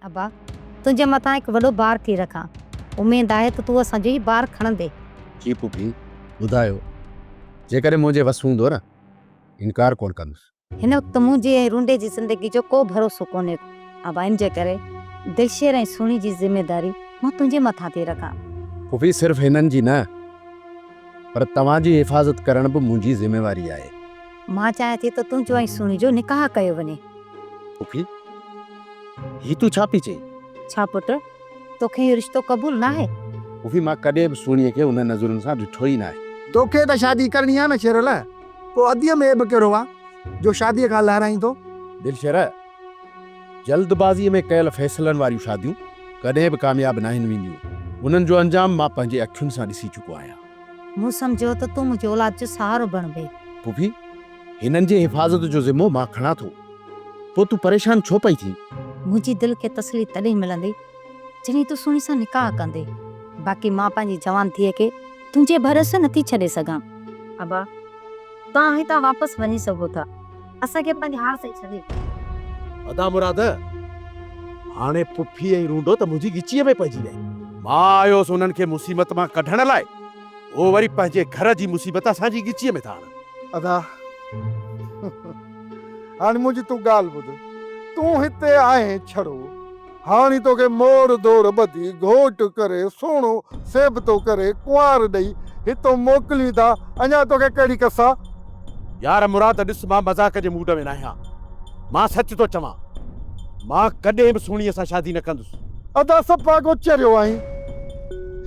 ابا! تنهنجي مٿان هڪ وڏو بار ٿي رکان. اميد آهي ته تون اسان جو هي بار کڻندين. جي پڦي، ٻڌايو. جيڪڏهن منهنجي وس هوندو نه، انڪار ڪونه ڪندس. هن وقت منهنجي ۽ رونڊي جي زندگي جو ڪو ڀروسو ڪونهي ڪو. ابا! ان جي ڪري دلشير ۽ سهڻي جي ذميواري مان تنهنجي مٿان ٿي رکان. پڦي، صرف هنن جي نه، پر توهان جي حفاظت ڪرڻ به منهنجي ذميواري آهي. مان چاهيان ٿي ته تنهنجو ۽ سهڻي جو نڪاح ڪيو وڃي. پڦي، هي تون ڇا پئي چئين؟ ڇا پٽ، توکي اهو رشتو قبول ناهي؟ پڦي، مان ڪڏهن به سهڻيء کي انهن نظرن سان ڏٺو ئي ناهي. توکي ته شادي ڪرڻي آ نه شيرل، پوء اديء ۾ عيب ڪهڙو آ، جو شاديء کان لهرائين ٿو؟ دلشير، جلدبازيء ۾ ڪيل فيصلن واريون شاديون ڪڏهن به ڪامياب ناهن وينديون. انهن جو انجام مان پنهنجي اکين سان ڏسي چڪو آهيان. مون سمجهيو ته تون منهنجي اولاد جو سهارو بڻبي. ڦوڦي، هنن جي حفاظت جو ذمو مان کڻان ٿو. پوء تون پريشان ڇو پئي ٿين؟ منهنجي دل کي تسلي تڏهن ملندي، جڏهن تون سهڻي سان نڪاح ڪندي. باقي مان پنهنجي جوان ڌيء کي تنهنجي ڀروسي نٿي ڇڏي سگهان. ابا، توهان هتان واپس وڃي سگهو ٿا. اسان کي پنهنجي حال تي ڇڏي. ادا مراد! هاڻي پڦي ۽ رونڊو ته منهنجي ڳچيء ۾ پئجي ويا. مان آيس انهن کي مصيبت مان ڪڍڻ لاء، هو وري پنهنجي گهر جي مصيبت اسان جي ڳچيء ۾ ٿا آڻن. ادا! هاڻي منهنجي تون ڳالهه ٻڌ. تون هتي آهين ڇڙو. هاڻي توکي موڙ دور ٻڌي گهوٽ ڪري سهڻو سيبتو ڪري ڪنوار ڏئي هتئون موڪلين ٿا اڃا توکي ڪهڙي ڪس آ. يار مراد ڏس مان مذاق جي موڊ ۾ ناهيان مان سچ ٿو چوان مان ڪڏهن به سهڻيء سان شادي نه ڪندس. ادا سپاگو چريو آهين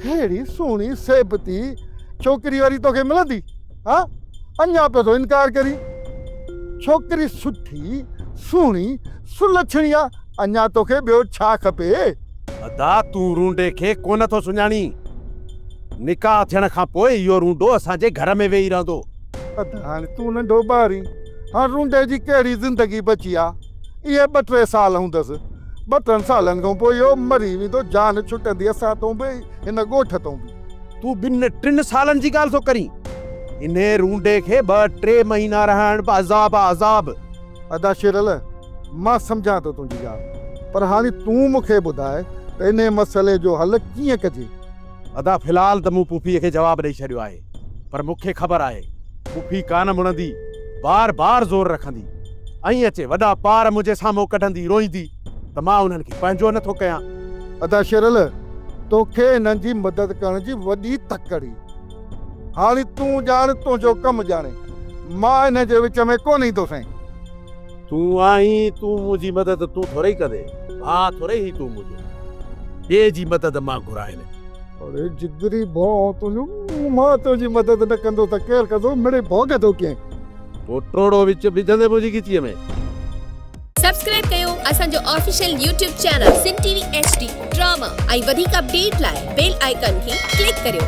ههڙي سهڻي سيبتي ڇوڪري وري توکي ملندي. ها اڃا پيو ٿو انڪار ڪرين. ڇوڪري سٺي، سهڻي، سلڇڻي آ، اڃا توکي ٻيو ڇا کپي. ادا تون رونڊي کي ڪونه ٿو سڃاڻين. نڪاح ٿيڻ کان پوء اهو رونڊو اسان جي گهر ۾ ويهي رهندو. ادا هاڻي تون ننڍو ٻارين، هاڻ رونڊي جي ڪهڙي زندگي بچي آ. اهي ٻه ٽي سال هوندس. ٻه ٽن سالن کان پوء اهو مري ويندو، جان ڇٽندي اسان تان به، هن ڳوٺ تان به. تون ٻن ٽن سالن جي ڳالهه ٿو ڪرين. انهيء رونڊي کي ٻه ٽي مهينا رهائڻ به عذاب آ عذاب. ادا شيرل مان سمجهان ٿو تنهنجي ڳالهه پر هاڻي تون مون کي ٻڌاء ته انهيء مسئلي جو حل ڪيئن ڪجي؟ ادا في الحال ته مون پڦيء کي جواب ڏئي ڇڏيو آهي پر مون کي خبر آهي پڦي ڪانه مڙندي بار بار زور رکندي ۽ اچي وڏا پار منهنجي سامهون ڪڍندي روئيندي ته مان انهن کي پنهنجو نه ٿو ڪيان. ادا شيرل توکي انهن جي مدد ڪرڻ جي وڏي تڪ ڪري. هاڻي تون ڄاڻ تنهنجو ڪم ڄاڻي. مان انهن جي وچ ۾ ڪونه ايندو سائين. تون آهين تون منهنجي مدد تون ٿورئي ڪندي. ڀاء ٿورئي هين تون منهنجو. ٻئي جي مدد مان گهرائين نه. اڙي جگري ڀونء تنهنجو. مان تنهنجي مدد نه ڪندو ته ڪير ڪندو. مڙئي ڀوڳ ٿو ڪين. پوٽوڙو وچ وجهندي منهنجي ڳچيء ۾. سبسڪرائب ڪيو اسان جو official YouTube channel Sindh T V H D drama ۽ وڌيڪ اپڊيٽ لاء بيل آئيڪان کي ڪلڪ ڪريو.